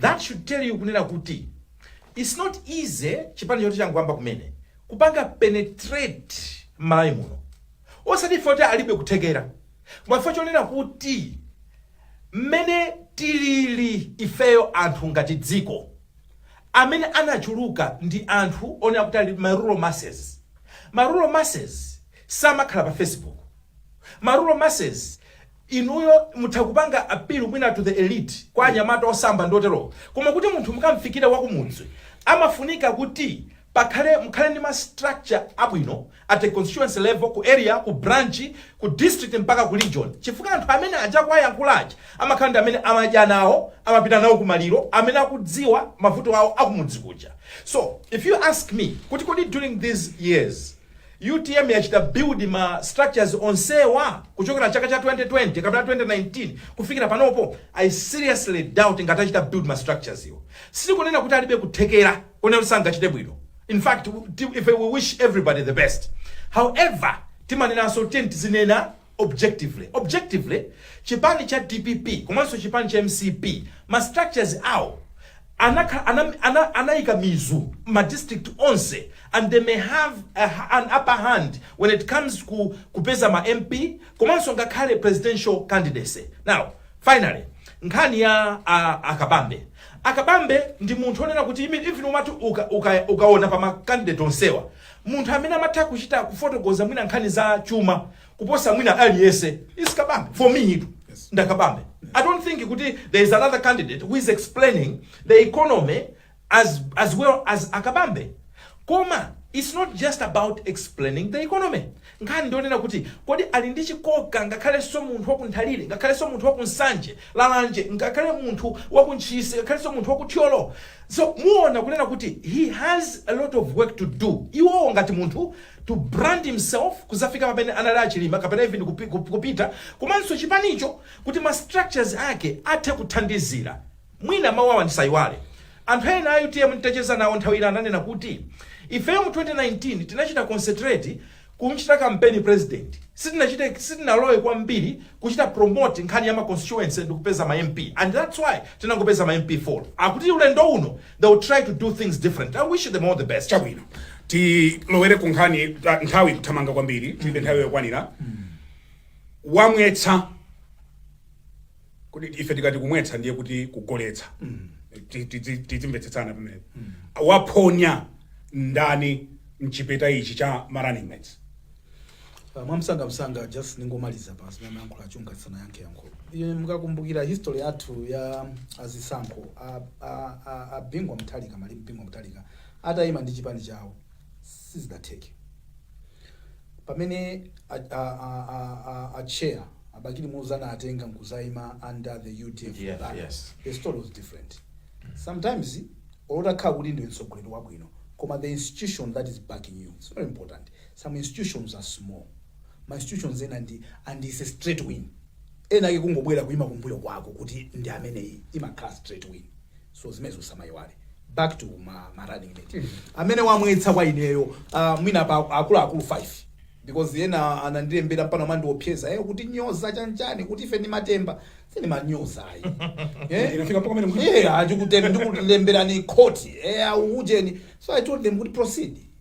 Speaker 2: That should tell you kunena kuti it's not easy chipani choti changoyamba kumene kupanga penetrate m'Malawi muno osati chifukwa choti alibe kuthekera koma chifukwa chonena kuti mmene tilili ifeyo anthu ngati dziko amene anachuluka ndi anthu onena kuti ali ma rural masses ma rural masses samakhala pa facebook ma rural masses Inuyo mutha kupanga appeal mwina to the elite kwa anyamata osamba ndi oterowo koma kuti munthu mukamfikire wakumudzi amafunika kuti pakhale mukhale ndi ma structure abwino at a constituency level, ku area, ku branch, ku district mpaka ku region chifukwa anthu amene aja akawayankhula aja amakhala ndi amene amadya nawo, amapita nawo kumaliro, amene akudziwa mavuto awo akumudzi kuja. So if you ask me kuti kodi during these years. Utm yachita build ma structures onsewa kuchokera chaka cha 2020 kapena 2019 kufikira panopo? I seriously doubt ngati achita build ma structures wo. Sitikunena kuti alibe kuthekera konena kuti sangachite bwino. In fact, ife we wish everybody the best. However, timanenanso tiyeni tizinena. objectively objectively chipani cha dpp komanso chipani cha mcp ma structures awo anakhala ana, ana, anaika mizu ma district onse and they may have a, ha- an upper hand when it comes ku kupeza ma mp komanso ngakhale presidential candidacy now finally nkhani ya a, akabambe akabambe ndi munthu onena kuti imi- even umati uka- uka- ukaona pa ma candidate onsewa Munthu amene amatha kuchita kufotokoza mwina nkhani za chuma kuposa mwina aliyese is Kabambe for me itu nda Kabambe. I don't think kuti there is another candidate who is explaining the economy as, as well as Akabambe koma it's not just about explaining the economy Nkhani ndi yonena kuti kodi ali ndi chikoka ngakhalenso munthu wa ku Nthalire, ngakhalenso munthu wa ku Nsanje, Lalanje, ngakhale munthu wa ku Ntchisi, ngakhalenso munthu wa ku Thyolo. So muona kunena kuti he has a lot of work to do. Iwowo ngati munthu to brand himself kuzafika pamene anali a Chilima kapena even kupi, kup- kupita komanso chipanicho kuti ma structures ake athe kuthandizira. Mwina mawu awa ndisaiwale. Anthu ena a utm nditacheza nawo nthawi ina ananena kuti, Ifeyo mu 2019 tinachita concentrate kum'chita kampeni pulezidenti. Sitinachite, sitinalowe kwambiri kuchita promote nkhani ya ma constituency ndi kupeza ma MP and that's why tinangopeza ma MP 4. Akuti ulendo uno they will try to do things differently. I wish them all the best. Chabwino.
Speaker 1: Tilowere ku nkhani ta- nthawi ikuthamanga kwambiri. Tilibe nthawi yokwanira. Wamwetsa koma ife tikati kumwetsa ndiye kuti kugoletsa Ti- tidzi- tidzimvetsetsana pamenepo waphonya ndani mchipeta ichi cha ma running mates Uh, mwamsanga
Speaker 3: msanga just ningomaliza pa zimene mayankhula a Chunga tisanayankhe yankho Ine mukakumbukira history yathu ya azisankho a- a- a- a bingu mutharika malemu bingu mutharika atayima ndi chipani chawo sizidatheke pamene a, a, a, a, a, a chair abakili muluzi anawatenga nkuzaima under the udf banner, yes. the story
Speaker 2: was different
Speaker 3: sometimes olotakhala kuti ndiwe mtsogoleri wabwino koma the institution that is backing you it's very important some institutions are small ma institutions ena and it's a straight win ena ake kungobwera kuima kumbuyo kwako kuti ndi ameneyi imakhala straight win so zimenezo tisamaiwale back to ma, ma running mate amene wamwetsa kwa ineyo uh, mwina pa akuluakulu 5 because ena anandilembera mpaka kumandiopseza eh, kutinyoza chanichani kuti ife ndi matemba sindimanyoza ayi Eh, Inafika mpaka pamene
Speaker 1: mkuti- eh, ah, ndikute- ndikulemberani
Speaker 3: khoti eh, aujeni so i told them kuti proceed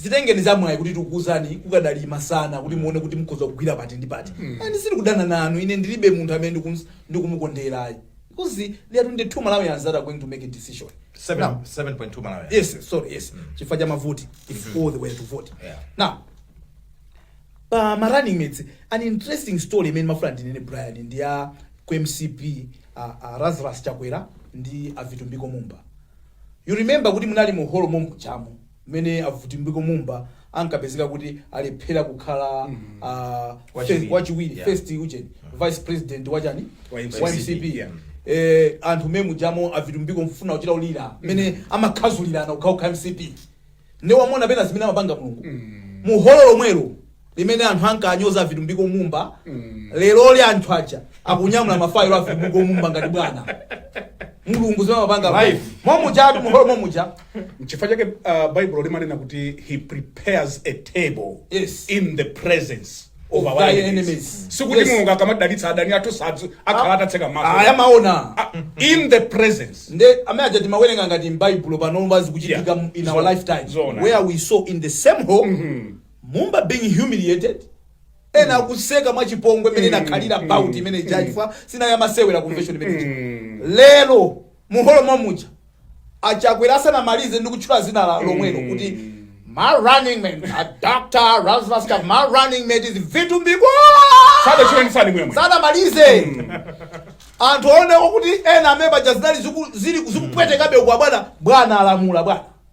Speaker 3: dzitengeni amwayi kuti tikuuzani kukadali masana kuti muone kuti mukhoza kugwira pati ndi pati and sili kudana nanu ayi ine ndilibe munthu amene ndikum- ndikumukondera ayi because they are 22 malawians that are going to make a decision Seven- Now, 7.2
Speaker 2: Malawians. yes sorry yes
Speaker 3: chifukwa cha mavoti if all the way to vote Yeah. now pa ma running mates an interesting story imene ndimafuna ndinene brian ndi ya ku mcp uh, uh, Lazarus Chakwera ndi a Vitumbiko Mumba you remember kuti munali mu hall momujamo mmene a Vitumbiko Mumba ankapezeka kuti alephera kukhala ah, Wachiwiri. fe- wachiwiri Yeah. first ujeni vice president wachani Wa MCP. wa mcp Yeah. eh, anthu momujamo a Vitumbiko kufuna kuchita kulira mmene amakhazulirana kukhala kukhala mcp nde wamona pena zimene amapanga mulungu muholo lomwelo limene anthu ankanyoza a Vitumbiko mumba leroli anthu aja akunyamula mafailo a vitumbiko mumba ngati bwana mulungu zimene amapanga Life. momuja atu muholo momuja nchifukwa chake
Speaker 1: uh, baibulo limanena kuti he prepares a table Yes. in the presence of Of our thy enemies enemies. sikuti Yes. mulungu akamadalitsa adani athu sadzakhala atatseka maso ayi amaona
Speaker 3: Ah, in the
Speaker 1: presence nde amene aja timawerenga
Speaker 3: ngati mbaibulo pano zikuchitika Yeah. in our Zo- lifetime zoona. where we saw in the same hall Mumba being humiliated ena akuseka mwachipongwe mmene inakhalira bout imene ija chifukwa sinali yamasewera convention imene ija lero muholo momuja achakwera asanamalize ndi kutchula dzina lomwelo kuti my running mate a doctor Lazarus ka, my running mate is Vitumbiko
Speaker 1: Sadachileni sani mwemwe. asanamalize
Speaker 3: anthu aonewo kuti ena amene paja zinali ziku- zili- zikupwetekabe uku abwana bwana alamula bwana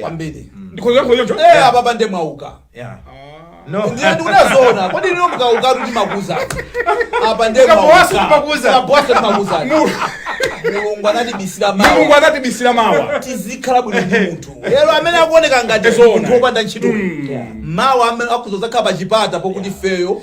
Speaker 1: kwambiri
Speaker 3: ndikhoza
Speaker 1: kuyankha choncho Eh, apa nde
Speaker 3: mwauka Yeah.
Speaker 2: No. ndiye ndikunena
Speaker 3: zoona kodi lino mukauka kuti makuza apa nde Mukagwanso mwauka. timakuza. Mukagwanso timakuza. mulungu anatibisira mulungu mawa anatibisira mawa tizikhala bwino ndi munthu lero amene akuoneka ngati Zoona. munthu wopanda ntchito mawa amene akudzakhala pa chipata pokuti feyo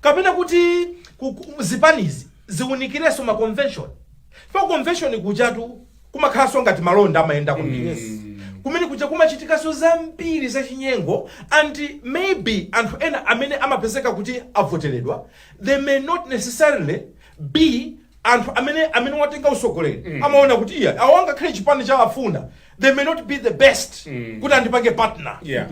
Speaker 2: kapena kuti ku- ku- zipanizi ziwunikirenso ma convention pa convention kujatu kumakhalanso ngati malonda amayenda kumene kumene kuja kumachitikanso zambiri zachinyengo and maybe anthu ena amene amapezeka kuti avoteredwa they may not necessarily be anthu amene amene watenga usogoleri amaona kuti ii awa angakhale chipani chawafuna they may not be the best kuti andipange partner Yeah.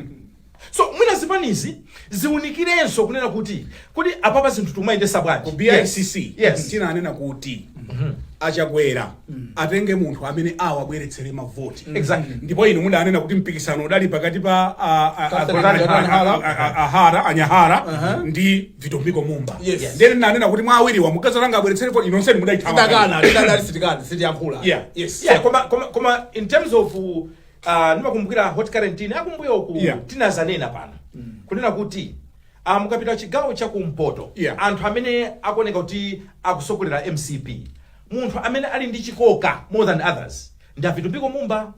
Speaker 1: So
Speaker 2: mwina zipanizi ziwunikirenso kunena kuti kodi apapa zinthu timayendesa bwanji? Ku
Speaker 1: BICC yes. Tinanena
Speaker 2: kuti mm
Speaker 1: -hmm. achakwera mm. atenge munthu amene awabweretsere mavoti mm. exactly. ndipo inu
Speaker 2: mudanena kuti
Speaker 1: mpikisano udali pakati pa a Hara a NyaHara uh-huh. ndi Vitumbiko Mumba yes. yes. nde ine ndinanena
Speaker 3: kuti mwa awiriwa
Speaker 1: mukadzatenga abweretsere voti inu nonsenu mudaithawa
Speaker 3: koma
Speaker 2: in terms of Ah, ndimakumbukira Hot Current akumbuyoku Yeah. tinazanena pano kunena kuti ah, mukapita chigawo cha kumpoto Yeah. anthu amene akuoneka kuti akusogolera mcp munthu amene ali ndi chikoka more than others ndi avitumbiko mumba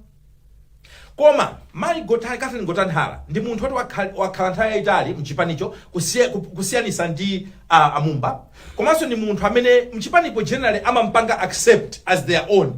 Speaker 2: koma mayi Gota- Catherine Gotani Hara ndi munthu woti wakha- wakhala nthawi yayitali mchipanicho kusiya- ku- kusiyanisa ndi ah, amumba komanso ndi munthu amene mchipanipo generally amampanga accept as their own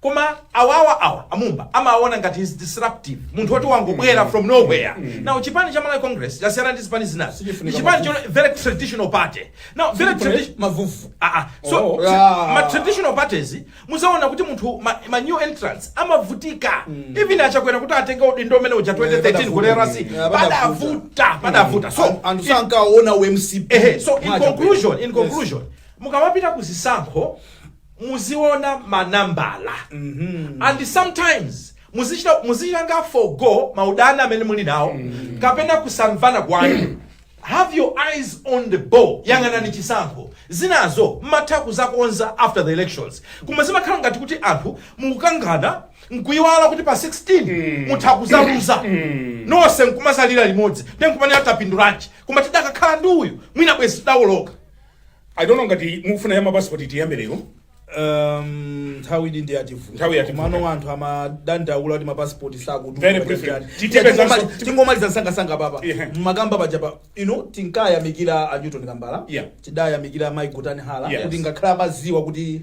Speaker 2: Koma awawa awa amumba amawaona ngati is disruptive munthu woti wangobwera from nowhere now chipani cha Malawi Congress chosiyana ndi zipani zinazi ndi Sichifunika chipani mavuvu. cho very traditional party now very Sichifunika tradition mavuvu. ah ah
Speaker 3: so Oh. tri-
Speaker 2: Ah. ma traditional parties muzaona kuti munthu ma, ma new entrants amavutika even achakwera kuti atenge udindo umene uja 2013 ku RC Yeah, padavuta padavuta so An- anthu sankaona umcp
Speaker 3: ehe so in Mwacha conclusion
Speaker 2: in Yes. conclusion mukamapita ku zisankho muziona ma nambala and sometimes muzichita muzichitanga forgo maudani amene muli nawo kapena kusamvana kwanu have your eyes on the ball yang'anani chisankho zinazo mmatha kuzakonza after the elections koma zimakhala ngati kuti anthu mukukangana nkuyiwala kuti pa 16 mutha kuzaluza nonse nkumazalira limodzi then nkumanena tapindulanji koma tidakakhala ndi uyu mwina bwezi tidawoloka i don't
Speaker 1: know ngati mukufuna ya mapasipoti tiyambe lero
Speaker 3: Um, nthawi ili ndi yativuta Nthawi yativuta. komano anthu amadandaula kuti mapasipoti Very briefly. Titipeza nso-
Speaker 1: sakuti
Speaker 3: tingomaliza msangasanga papa Yeah. mmakamba paja pa ino tinkayamikira a newton kambala Yeah. tidayamikira mai Gotani Hara Yes. kuti ngakhale amaziwa kuti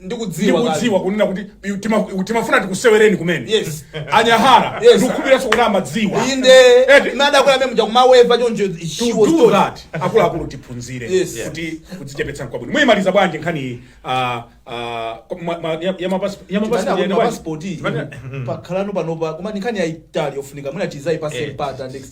Speaker 1: ndikudziwa kale. ndikudziwa kunena kuti yu- tima- yu- timafuna tikusewereni kumene Yes. a Nyahara Yes. ndikukhulupiranso kuti amadziwa inde Eti.
Speaker 3: madakwera meme chakumaweva choncho she to was do told. that akuluakulu tiphunzire
Speaker 1: Yes. kuti kudzichepetsa nkwabwino muyimaliza bwanji nkhani iyi, ah, ah, kwa- ma- ma- ya- ya mapasi- ya mapasi- Tipanena kuti ya- mapasipoti Tipanena- pakhalano panopa koma ni nkhani yaitali yofunika mwina tizaipase Yes. mpata next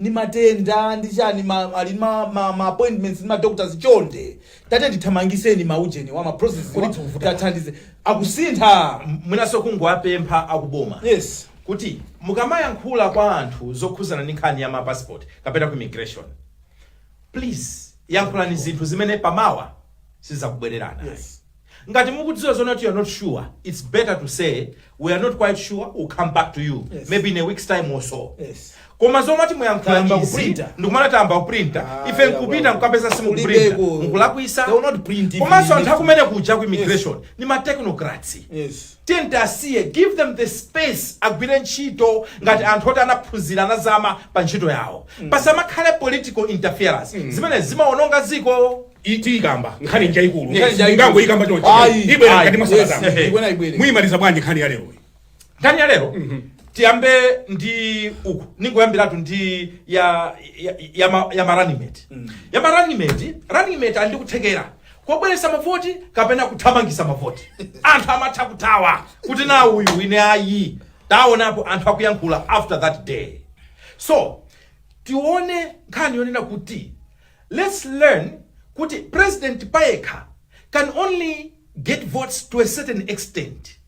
Speaker 3: ndi matenda ndi chani ma ali ndi ma ma ma appointments ndi ma doctors chonde tatiyeni tithamangiseni ma ujeni wa ma processes wa tathandize
Speaker 2: akusintha mwinanso
Speaker 3: kungowapempha akuboma
Speaker 2: yes kuti mukamayankhula kwa anthu zokhuzana ndi nkhani ya mapassport kapena ku immigration please yankhulani zinthu zimene pamawa sizakubwererani yes
Speaker 3: Ngati mukudziwa
Speaker 2: zoti you're not sure, it's better to say we are not quite sure, we'll come back to you Yes. maybe in a week's time or
Speaker 3: so.
Speaker 2: Yes. Koma zomati
Speaker 3: muyankhula
Speaker 2: Tayamba izi kuprinta.
Speaker 3: ndikumana
Speaker 2: tayamba
Speaker 3: kuprinta
Speaker 2: Ah, ife nkupita yawa. nkukapeza simukuprinta Kulibeko. mukulakwisa They will not print it
Speaker 3: komanso in anthu this- akumene kuja
Speaker 2: ku immigration ni ma technocrats Yes. tiyeni
Speaker 3: asiye
Speaker 2: give them the space agwire ntchito ngati anthu oti anaphunzira anazama pa ntchito yawo pasamakhale political interference zimene zimaononga dziko tikamba nkhani njayikulu Yes.
Speaker 1: Nkhani njayikulu. simungangoikamba
Speaker 3: chonchi
Speaker 1: Ayi. ibwera Ayi. mkati mwa
Speaker 3: Yes.
Speaker 1: sabata Ehe. Ibwera,
Speaker 3: ibwere.
Speaker 1: muyimaliza
Speaker 3: bwanji nkhani ya
Speaker 1: lero nkhani
Speaker 2: ya lero tiyambe ndi uku ningoyambiratu ndi ya ya, ya, ma- ya ma running mate ya ma running mate running mate ali ndi kuthekera kobweretsa mavoti kapena kuthamangitsa mavoti anthu amatha kuthawa kuti na uyu ine ayi taonapo anthu akuyankhula after that day so tione nkhani yonena kuti Let's learn kuti president payekha can only get votes to a certain extent.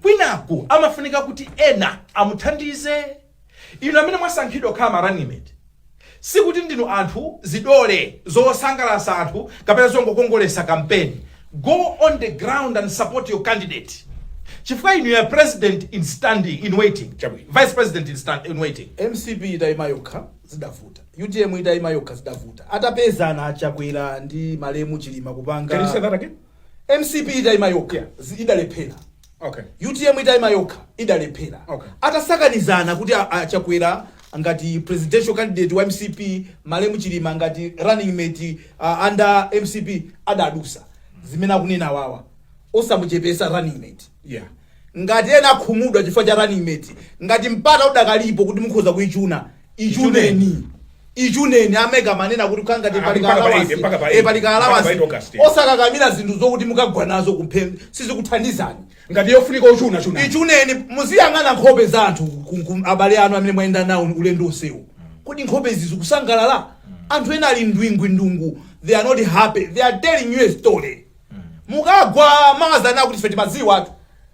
Speaker 2: Kwinaku amafunika kuti ena amuthandize. Inu amene mwasankhidwa kukhala ma running mate sikuti ndinu anthu zidole zosangalatsa anthu kapena zongokongolesa kampeni. Go on the ground and support your candidate. Chifukwa you are president in standing in waiting, chabwino. Vice president in, stand, in waiting. mcp itaima
Speaker 3: yokha zidavuta Utm itaima yokha zidavuta. Atapezana a Chakwera ndi malemu Chilima kupanga. Can you say that again?
Speaker 1: Mcp itaima
Speaker 3: yokha yeah. idalephera. Okay.
Speaker 1: Utm itaima
Speaker 3: yokha idalephera. Okay. Atasakanizana
Speaker 1: kuti
Speaker 3: a Chakwera ngati presidential candidate wa MCP malemu Chilima ngati running mate uh, under MCP adadusa zimene akunena wawa osamuchepesa running mate. Yeah.
Speaker 1: Ngati ena
Speaker 3: akhumudwa chifukwa cha running mate, ngati mpata udakalipo kuti mukhoza kuichuna ichuneni ichuneni a Mega amanena kuti kukhala ngati Ah, pali mpaka pa kaalawansi. eight, mpaka pa Eh, eight. pali Mpaka pa kaalawansi. eight August, yeah. osakakamira zinthu zokuti mukagwa nazo kuphompho sizikuthandizani ngati yofunika
Speaker 1: kuchuna chuna ichuneni
Speaker 3: muziyang'ana nkhope za anthu ku- ku- abale anu amene mwayenda nawo ulendo wonsewu kodi nkhope izi zikusangalala anthu ena ali ndwingwindungu they are not happy they are telling you a story mukagwa mawazana kuti ife timadziwatu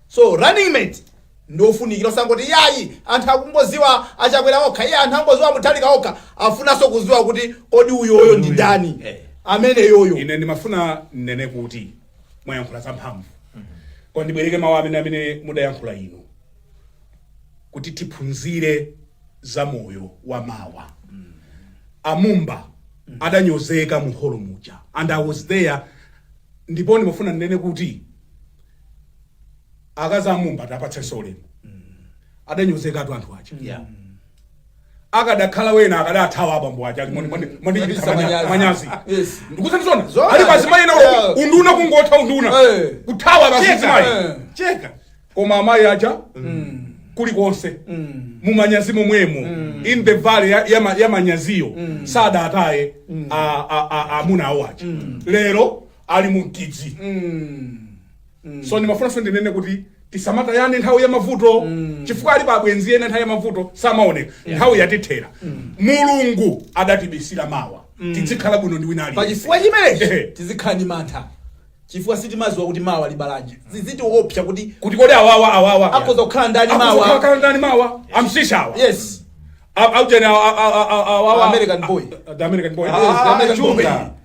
Speaker 3: so running mate ndiofunikira osangoti iyayi anthu akungodziwa a Chakwera okha iyayi anthu akungodziwa a Mutharika okha afunanso kudziwa kuti kodi uyoyo ndi ndani Eh. amene yoyo ine ndimafuna
Speaker 1: ndinene kuti mwayankhula zamphamvu koma ndibwereke mawu amene amene mudayankhula inu kuti tiphunzire za moyo wa mawa a Mumba adanyozeka mu holo muja and i was there ndipo ndimafuna ndinene kuti akazi a Mumba tiwapatsenso ulemu adanyozekatu anthu aja Yeah. akadakhala ena akadathawa abambo aja ali mwandi- mwandi- mwandichititsa Mwandichititsa manya- manyazi. manyazi Yes. ndikusanizona Zona. alipo azimayi ena Yeah. unduna kungotha unduna Eh. kuthawa Cheka. basi mzimayi Eh. cheka koma amayi aja kulikonse mumanyazi momwemo in the valley ya- ya ma- ya manyaziyo sadataye a- a- a- amuna awo aja lero ali mu mkidzi mm. so ndimafunanso ndinene kuti tisamatayane nthawi ya mavuto mm. chifukwa alipo abwenzi ena nthawi ya mavuto samaoneka yeah. nthawi yatithera mm. mulungu adatibisira mawa mm. tidzikhala bwino ndi wina aliyense pachifukwa chimenechi
Speaker 3: tizikhala ndi mantha chifukwa sitimaziwa kuti mawa libala chiyani zidzitiopsa kuti kuti kodi awawa
Speaker 1: awawa akhoza kukhala
Speaker 3: ndani mawa akhoza ndani mawa amsisha awa yes aujeni
Speaker 1: awa
Speaker 3: american boy the american boy yes
Speaker 1: the american boy